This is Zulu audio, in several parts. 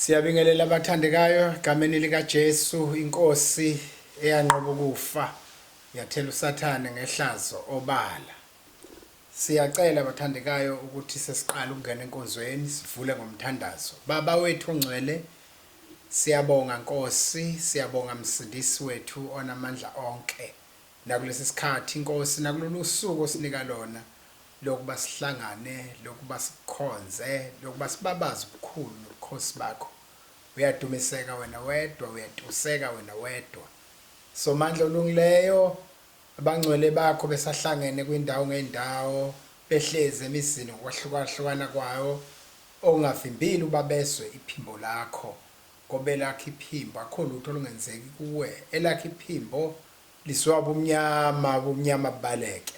Siyabingelela abathandekayo gameni lika Jesu inkosi eyanqoba ukufa yathela usathane ngehlazo obala siyacela abathandekayo ukuthi sesiqala ukungena enkonzweni sivule ngomthandazo baba wethu ongcwele Siyabonga Nkosi siyabonga Msindisi wethu onamandla onke nakulesisikhathi Nkosi nakulolusuku osinika lona lokuba sihlangane lokuba sikukhonze lokuba sibabaze ubukhulu nobukhosi bakho uyadumiseka wena wedwa uyatuseka wena wedwa Somandla olungileyo abangcwele bakho besahlangene kwindawo ngeyindawo behlezi emizini ngokwahlukahlukana kwawo Ongavimbile ubabezwe iphimbo lakho ngoba elakho iphimbo akukho lutho olungenzeki kuwe elakho iphimbo lizwa ubumnyama ubumnyama bubaleke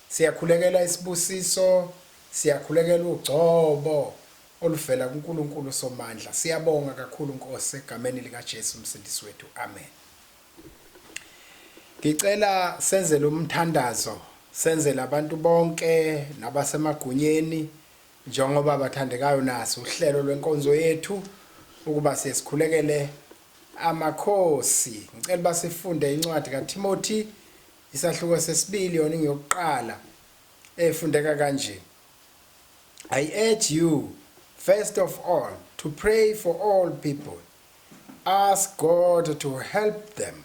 siyakhulekela isibusiso siyakhulekela ugcobo oluvela kuNkulunkulu uSomandla siyabonga kakhulu Nkosi egameni likaJesu umsindisi wethu amen Ngicela senzele umthandazo senzele abantu bonke nabasemagunyeni Njengoba bathandekayo naso uhlelo lwenkonzo yethu ukuba siye sikhulekele amakhosi ngicela uba sifunde incwadi kaTimothy isahluko sesibili yona ingiyokuqala efundeka kanje I urge you first of all to pray for all people ask God to help them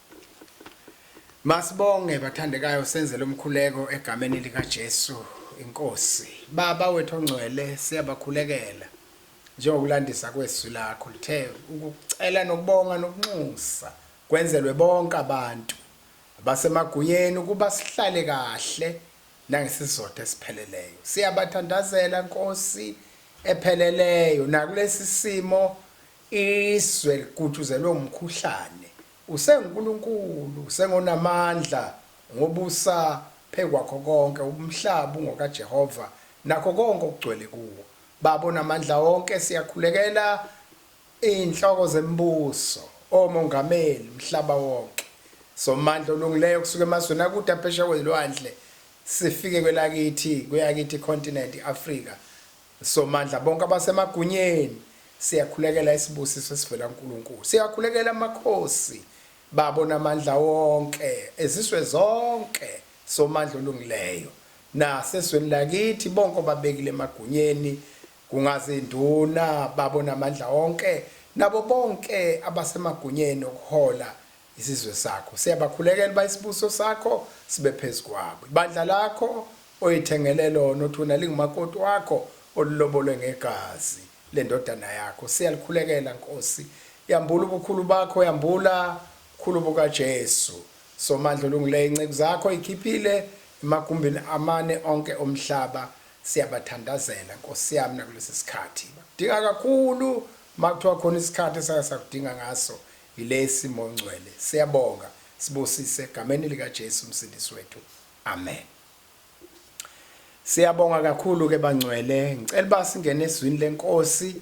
Masibonge bathandekayo senze lomkhuleko egameni lika Jesu inkosi. Baba wethu ongcwele siyabakhulekela njengokulandisa kwezwi lakho lithe ukucela nokubonga nokunxusa kwenzelwe bonke abantu abasemagunyeni ukuba sihlale kahle nangesizotha esipheleleyo. Siyabathandazela Nkosi epheleleyo nakulesi simo Izwe ligutshuzelwe umkhuhlane. UsenguNkulunkulu, usengonamandla, ngobusa phezu kwakho konke, umhlaba ungokaJehova, nakho konke okugcwele kuwo. Baba onamandla wonke, siyakhulekela izinhloko zembuso, omongameli, umhlaba wonke. Somandla olungileyo kusuka emazweni akude aphesheya kwezilwandle, sifike kwelakithi, kweyakithi icontinent, i-Afrika, Somandla bonke abasemagunyeni, siyakhulekela isibusiso esivela kuNkulunkulu. Siyakhulekela amakhosi, babo namandla wonke, ezizwe zonke, Somandla olungileyo, nasezweni lakithi, bonke obabekile emagunyeni, kungazinduna, babo namandla wonke, nabo bonke abasemagunyeni okuhola Isizwe sakho siyabakhulekela uba isibuso sakho sibe phezu kwabo. Ibandla lakho oyithengele lona othuna lingumakoti wakho olilobolwe ngegazi lendodana yakho siyalikhulekela Nkosi. Yambula ubukhulu bakho, yambula ubukhulu bukaJesu. Somandla olungileyo inceku zakho ikhiphile emagumbini amane onke omhlaba siyabathandazela Nkosi yami nakulesi sikhathi. Bakudinga kakhulu makuthiwa khona isikhathi esake sakudinga ngaso Yilesi Mongcwele siyabonga sibusise gameni lika Jesu msindisi wethu amen. Siyabonga kakhulu ke bangcwele ngicela ba singene ezwini lenkosi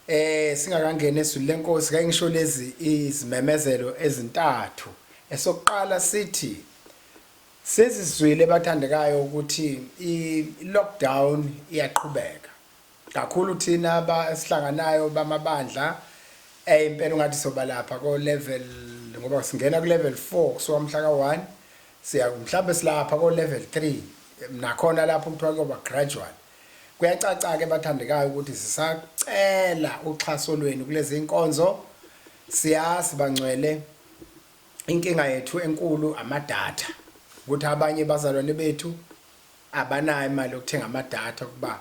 eh singakangena ezwini lenkosi kanye ngisho lezi izimemezelo ezintathu esokuqala sithi sezizwile bathandekayo ukuthi i lockdown iyaqhubeka Kakhulu thina ba esihlanganayo bamabandla eh impela ungathi soba lapha ko level ngoba singena ku level 4 kusuka umhla ka 1 siya mhlambe silapha ko level 3 nakhona lapho kuthiwa kuyoba gradual kuyacaca ke bathandekayo ukuthi sisacela uxhaso lwenu kulezi inkonzo siyazi bangcwele inkinga yethu enkulu amadatha ukuthi abanye bazalwane bethu abanayo imali yokuthenga amadatha ukuba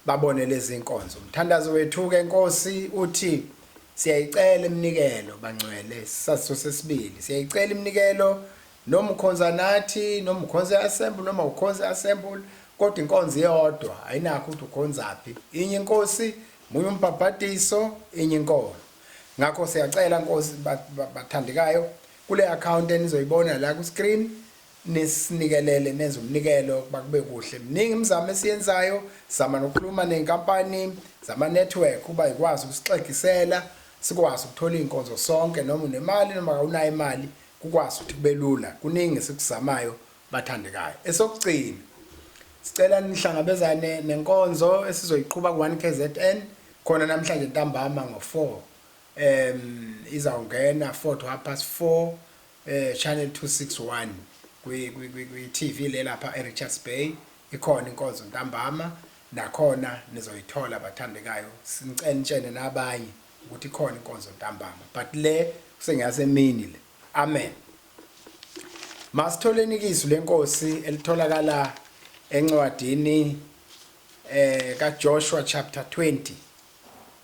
babone lezi nkonzo. Umthandazo wethu-ke Nkosi uthi siyayicela iminikelo bangcwele isaziso sesibili siyayicela iminikelo noma ukhonza nathi noma ukhonza i-assemble noma ukhonza i-assemble kodwa inkonzo iyodwa ayinakho ukuthi ukhonzaphi inye inkosi munye umbhabhadiso inye inkolo ngakho siyacela nkosi bathandekayo kule akhawunti enizoyibona la ku-screen Nisinikelele nenze umnikelo ukuba kube kuhle. Miningi imizamo esiyenzayo, sizama nokukhuluma ney'nkampani zama-network ukuba y'kwazi ukusixegisela, sikwazi ukuthola iy'nkonzo sonke noma unemali noma kawunayo imali kukwazi ukuthi kube lula. Kuningi esikuzamayo bathandekayo. Esokugcina, sicela nihlangabezane nenkonzo esizoyiqhuba ku-one KZN khona namhlanje ntambama ngo-four um izawungena four to half past four eh channel 261 kwi kwi kwi TV le lapha eRichards Bay ikhona inkonzo ntambama nakhona nizoyithola bathandekayo sincentshene nabanye ukuthi ikhona inkonzo ntambama but le kusengasemini le amen masitholeni ikisu lenkosi elitholakala encwadini eh kaJoshua chapter 20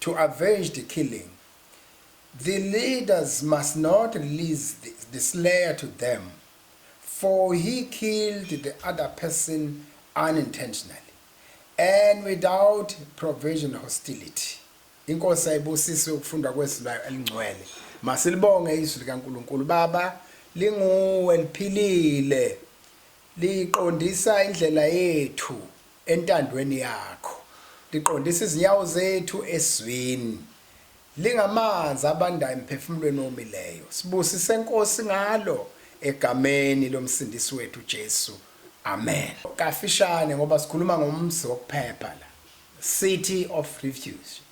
to avenge the killing, the leaders must not release the, the slayer to them for he killed the other person unintentionally and without provision hostility. Inkosi ayibusise ukufunda kwezwi layo elingcwele. Masilibonge izwi likaNkulunkulu. Baba linguwe liphilile. Liqondisa indlela yethu. Entandweni yakho. Liqondisa izinyawo zethu ezwini. Lingamanzi abandayo emphefumulweni owomileyo. Sibusise Nkosi ngalo egameni lomsindisi wethu uJesu. Amen. Kafishane ngoba sikhuluma ngomzi wokuphepha la. City of refuge.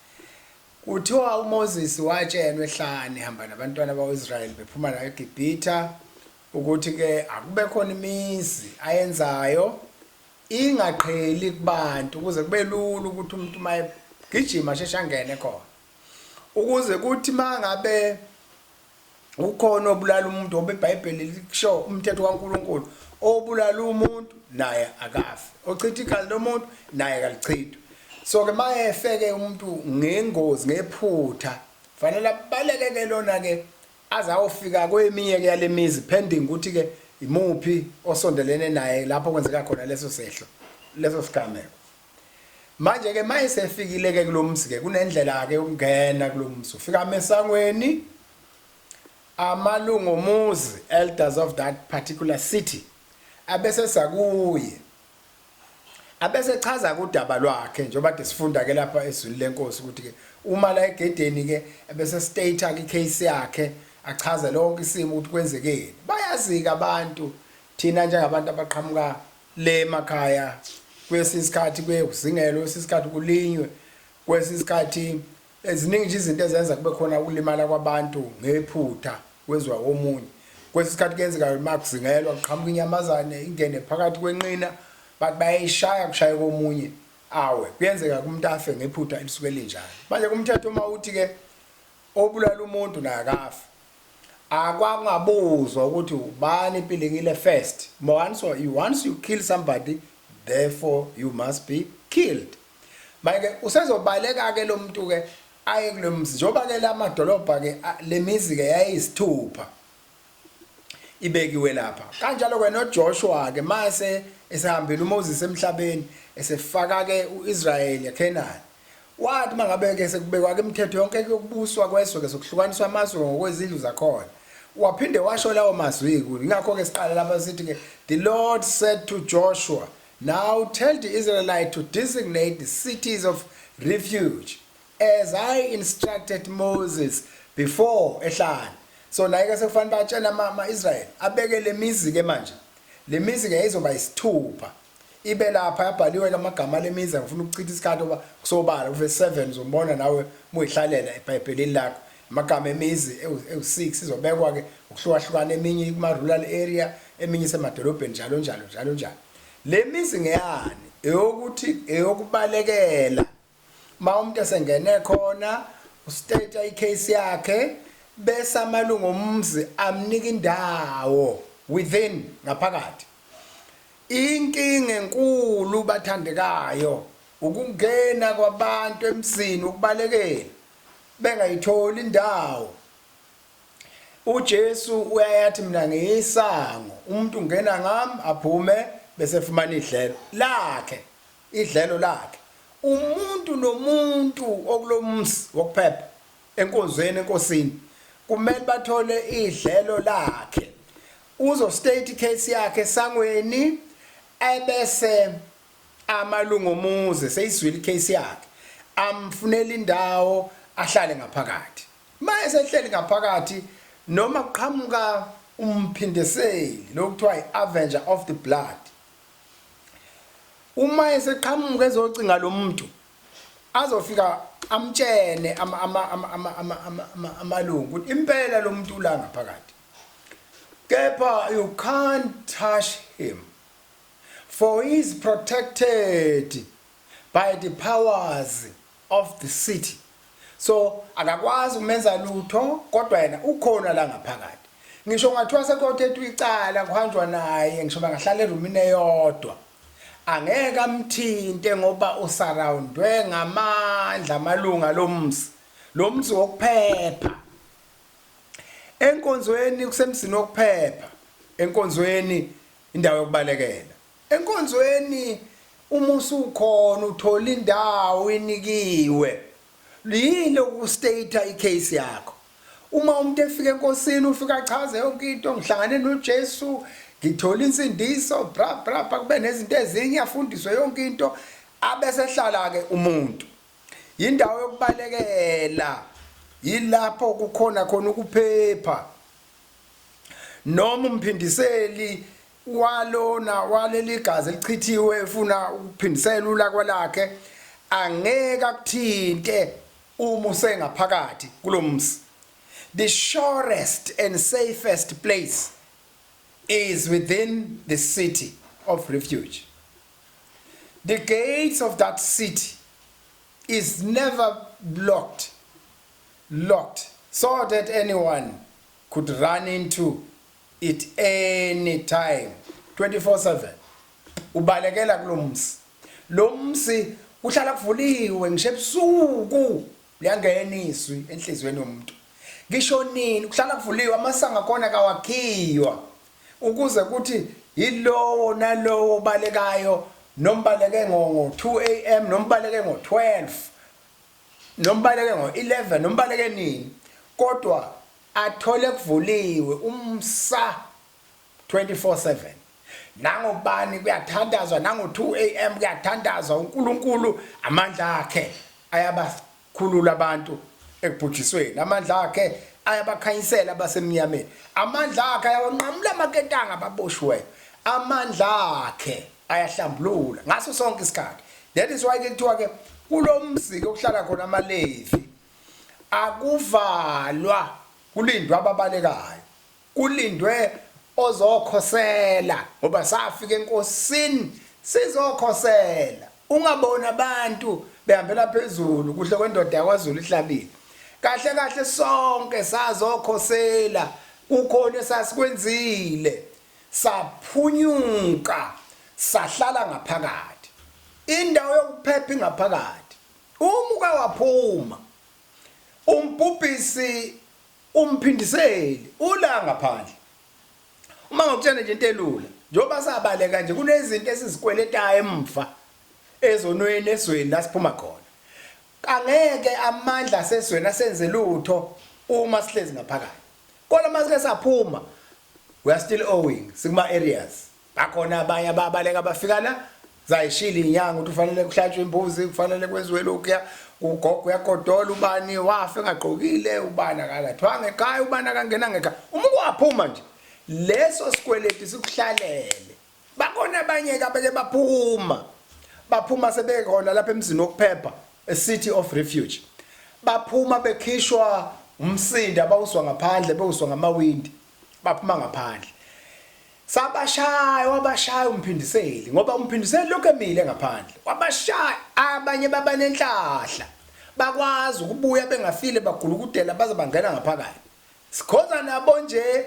Kuthiwa uMoses watshenwa ehlane ehamba nabantwana bakwaIsrael bephuma la eGibhitha ukuthi ke akube khona imizi ayenzayo ingaqheli kubantu ukuze kube lula ukuthi umuntu uma egijima asheshe angene khona ukuze kuthi uma ngabe ukhona obulala umuntu ngoba ibhayibheli likusho umthetho kankulunkulu obulala umuntu naye akafi ochitha igazi lomuntu naye kalichithwe so ke uma efeke umuntu ngengozi ngephutha fanele abaleke ke lona-ke aze ayofika kweminye-ke yale mizi pending ukuthi-ke imuphi osondelene naye lapho kwenzeka khona leso sehlo leso sigameko manje-ke ma esefikile-ke kulo mzi-ke kunendlela-ke yokungena kulo mzi ufika amesangweni amalungu omuzi elders of that particular city abese sakuye Abese chaza-ke udaba lwakhe njengoba kade sifunda-ke lapha ezwini lenkosi ukuthi-ke uma la egedeni-ke ebese state-ke i-case yakhe achaze lonke isimo ukuthi kwenzekeni bayazi-ke abantu thina njengabantu abaqhamuka le makhaya kwesinye isikhathi kuye kuzingelwe kwesinye isikhathi kulinywe kwesinye isikhathi Ziningi nje izinto ezenza kube khona ukulimala kwabantu ngephutha kwezwa komunye. Kwesinye isikhathi kuyenzeka uma kuzingelwa kuqhamuka inyamazane ingene phakathi kwenqina bathi bayayishaya kushaye komunye awe kuyenzeka kumuntu afe ngephutha elisuke linjalo manje kumthetho uma uthi-ke obulala umuntu naye akafe akwangabuzwa ukuthi ubani ipilingile first once you, once you kill somebody therefore you must be killed Manje-ke usezobaleka-ke lo muntu-ke aye kulo mzi njengoba-ke la madolobha-ke le mizi-ke yayiyisithupha ibekiwe lapha. Kanjalo-ke noJoshua-ke mase esehambile uMoses emhlabeni esefaka-ke u-Israyeli eKhenani. Wathi uma ngabe-ke sekubekwa-ke imithetho yonke yokubuswa kweswe-ke sokuhlukaniswa amazwe ngokwezindlu zakhona. Waphinde washo lawo mazwi-ke. Yingakho-ke siqala lapha sithi-ke, The Lord said to Joshua, Now tell the Israelite to designate the cities of refuge as I instructed Moses before ehlane. So naye ke sekufanele batshela ama-Israyeli abeke le mizi-ke manje. Le mizi-ke yayizoba yisithupha. Ibe lapha yabhaliwe ke amagama ale mizi angifuna ukuchitha isikhathi oba kusobala kuve 7 uzombona nawe muyihlalela ebhayibhelini lakho Amagama emizi ewu-6 izobekwa ke ngokuhlukahlukana eminye ikuma-rural area eminye isemadolobheni njalo njalo njalo njalo. Le mizi ngeyani? Eyokuthi eyokubalekela uma umuntu esengene khona ustate i-case yakhe bese amalungu omzi amnika indawo within ngaphakathi. Inkinga enkulu bathandekayo ukungena kwabantu emzini ukubalekela. bengayitholi indawo uJesu uyayathi mina ngiyisango umuntu ungena ngami aphume bese efumana idlelo lakhe idlelo lakhe umuntu nomuntu okulomsi wokuphepha enkonzweni enkosini kumele bathole idlelo lakhe uzo state case yakhe sangweni ebese Amalungu omuzi eseyizwile icase yakhe amfunela indawo ahlale ngaphakathi. Uma esehleli ngaphakathi noma kuqhamuka umphindeseli lo kuthiwa i-Avenger of the Blood. Uma eseqhamuka ezocinga lo muntu azofika amtshene amalungu ukuthi impela lo muntu ula ngaphakathi kepha you can't touch him for he is protected by the powers of the city so akakwazi ukumenza lutho kodwa yena ukhona la ngaphakathi ngisho ngathiwa sekothetwa icala kuhanjwa naye ngisho bangahlala erumini eyodwa angeke amthinte ngoba usurroundwe ngamandla amalunga lomzi lomzi wokuphepha enkonzweni kusemzini wokuphepha enkonzweni Indawo yokubalekela. Enkonzweni uma usukhona uthola indawo inikiwe. Luyilo ukustate icase yakho. Uma umuntu efika enkosini ufika achaze yonke into ngihlangane noJesu ngithola insindiso bra bra kube nezinto ezinye afundiswe yonke into abesehlala ke umuntu yindawo yokubalekela yilapho kukhona khona ukuphepha noma umphindiseli walona waleli gazi elichithiwe efuna ukuphindisela ulakwa lakhe angeke akuthinte uma usengaphakathi kulomsi the surest and safest place is within the city of refuge the gates of that city is never blocked locked so that anyone could run into it any time 24/7 ubalekela kulomsi lomsi kuhlala kuvuliwe ngisho ebusuku liyangena izwi enhlizweni yomuntu ngisho nini kuhlala kuvuliwe amasango akhona kawakhiywa ukuze kuthi yilowo nalowo balekayo nombaleke ngo 2 am nombaleke ngo 12 nombaleke ngo-11 nombaleke nini kodwa athole kuvuliwe umsa 24/7 nangobani kuyathandazwa nango-2 am kuyathandazwa unkulunkulu amandla akhe ayabakhulula abantu ekubhujisweni amandla akhe ayabakhanyisela abasemnyameni amandla akhe ayawanqamula amaketanga ababoshiweyo amandla akhe ayahlambulula ngaso sonke isikhathi that is why ke kuthiwa ke kulomziki okuhlala khona amalevi akuvalwa kulindwa ababalekayo kulindwe ozokhosela ngoba safika enkosini sizokhosela ungabona abantu behambela phezulu kuhle kwendoda yakwaZulu ihlabile kahle kahle sonke sazokhosela kukhona esasikwenzile Saphunyuka sahlala ngaphakathi. Indawo yokuphepha ingaphakathi. Uma uke waphuma, umbhubhisi umphindiseli ula ngaphandle. Uma ngokutshela nje into elula, njengoba sabaleka nje kunezinto esizikweletayo emva ezonweni esweni la siphuma khona. Kangeke amandla asezweni asenze lutho uma sihlezi ngaphakathi. Kodwa uma sike saphuma, We are still owing sikuma areas. Bakhona abanye ababaleka bafika la zayishila inyanga ukuthi ufanele kuhlatshwe imbuzi kufanele kwenziwe lokhuya ugogo uyagodola ubani wafa engagqokile ubani akalathwanga ekhaya ubani akangena ngekhaya uma kwaphuma nje leso sikweleti sikuhlalele Bakhona abanye-ke abake baphuma, baphuma sebekhona lapha emzini wokuphepha, a city of refuge. Baphuma bekhishwa umsindo abawuzwa ngaphandle, bewuzwa ngamawindi, baphuma ngaphandle. Sabashaya, wabashaya umphindiseli ngoba umphindiseli lokhu emile ngaphandle. Wabashaya abanye baba nenhlahla. Bakwazi ukubuya bengafile bagulukudela baze bangena ngaphakathi. Sikhoza nabo nje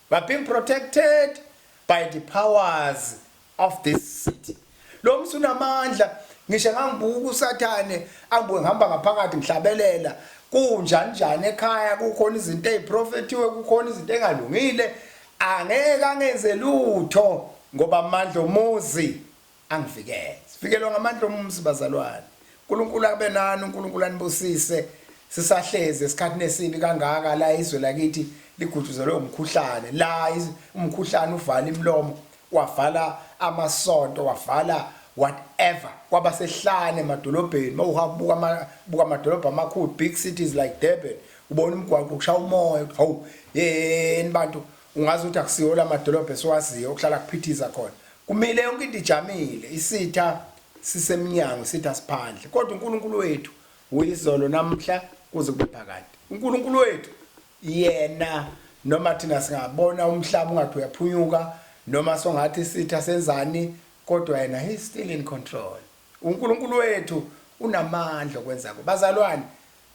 We're being protected by the powers of this city. Lo msi unamandla ngisho ngangibuka usathane angibuke ngihamba ngaphakathi ngihlabelela kunjani njani ekhaya kukhona izinto eziprofetiwe kukhona izinto engalungile angeke angenze lutho ngoba amandla omuzi angivikele sivikelwa ngamandla omumzi bazalwane uNkulunkulu abe nani uNkulunkulu anibusise sisahlezi esikhathini esibi kangaka la izwe lakithi ligutshuzelwe umkhuhlane la umkhuhlane uvala imlomo wavala amasonto wavala whatever kwaba sehlane emadolobheni mawuhabuka buka amadolobha amakhulu big cities like Durban ubona umgwaqo ukusha umoya hawu yeni bantu ungazi ukuthi akusiyo lamadolobha esiwaziyo okuhlala kuphithiza khona Kumile yonke into ijamile, isitha sisemnyango, isitha siphandle. Kodwa uNkulunkulu wethu uyizolo namhla kuze kube phakade. UNkulunkulu wethu yena noma thina singabona umhlaba ungathi uyaphunyuka noma songathi isitha senzani kodwa yena he still in control. UNkulunkulu wethu unamandla okwenzako. Bazalwane,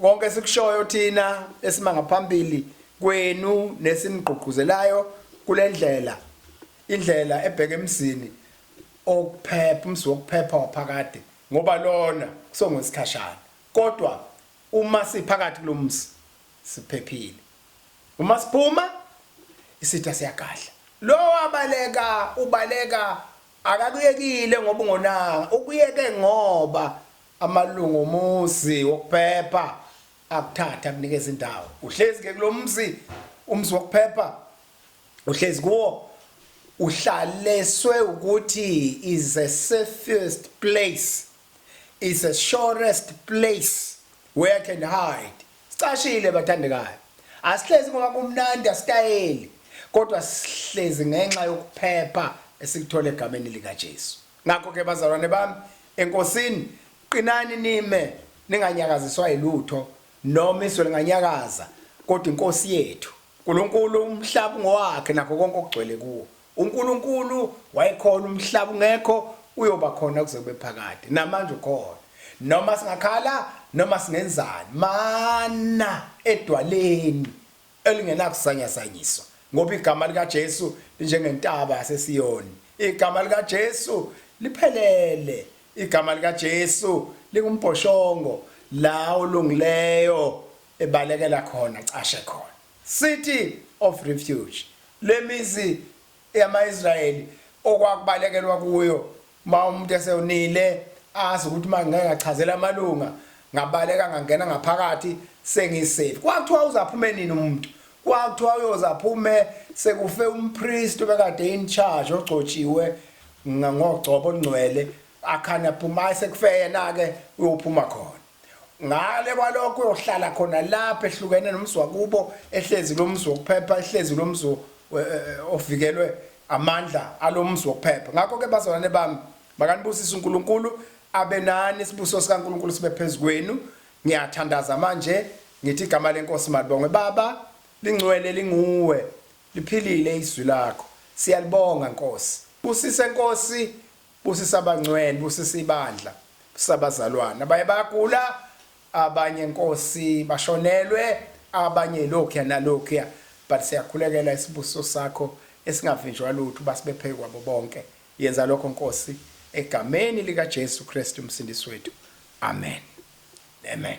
Konke esikushoyo thina esima ngaphambili kwenu nesimgqugquzelayo kule ndlela indlela ebheke emzini okuphepha umzi wokuphepha waphakade ngoba lona kusongwesikhashana kodwa uma siphakathi kulomzi siphephile uma siphuma isitha siyagadla lo wabaleka ubaleka akakuyekile ngoba ungonanga ukuyeke ngoba Amalungu omuzi wokuphepha akuthathe akunikeze indawo. Uhlezi ke kulomzi umzi wokuphepha uhlezi kuwo uhlaleswe ukuthi is a safest place is a surest place where I can hide sicashile bathandekayo asihlezi ngoba kumnandi asitayeli kodwa sihlezi ngenxa yokuphepha esilithola egameni likaJesu Ngakho ke, bazalwane bami eNkosini, qinani nime, ninganyakaziswa yilutho, noma izwe linganyakaza, kodwa iNkosi yethu. Nkulunkulu, umhlaba ungowakhe nakho konke okugcwele kuwo. UNkulunkulu wayekhona, umhlaba ungekho, uyoba khona kuze kube phakade. Namanje ukhona. Noma singakhala, noma singenzani, mana edwaleni. elingenakusanyasanyiswa, ngoba igama likaJesu linjengentaba yaseSiyoni, igama likaJesu liphelele, igama likaJesu lingumbhoshongo la olungileyo ebalekela khona, acashe khona. City of refuge, lemizi yama-Israyeli okwakubalekelwa kuyo uma umuntu esewonile azi ukuthi uma ngike ngachazela amalunga ngabaleka ngangena ngaphakathi sengisafe kwakuthiwa uzaphume nini umuntu kwakuthiwa uyoze aphume sekufe umpristi obekade in charge ogcotshiwe ngogcobo olungcwele akhane aphuma sekufeyena-ke uyophuma khona ngale kwalokho uyohlala khona lapha ehlukene nomzi wakubo ehlezi lo mzi wokuphepha ehlezi lo mzi eh, eh, eh, ovikelwe amandla alo mzi wokuphepha ngakho-ke bazalwane bami makanibusise unkulunkulu abe nani isibuso sikankulunkulu sibe phezu kwenu ngiyathandaza manje ngithi igama lenkosi malibongwe baba lingcwele linguwe liphilile izwi lakho siyalibonga nkosi busise nkosi Busisa abangcwel busisa ibandla busisa abazalwane abanye bayagula abanye nkosi bashonelwe abanye lokhuya nalokhuya but siyakhulekela isibusiso sakho esingavinjwa lutho basibephe kwabo bonke yenza lokho nkosi egameni lika Jesu Kristu umsindisi wethu amen amen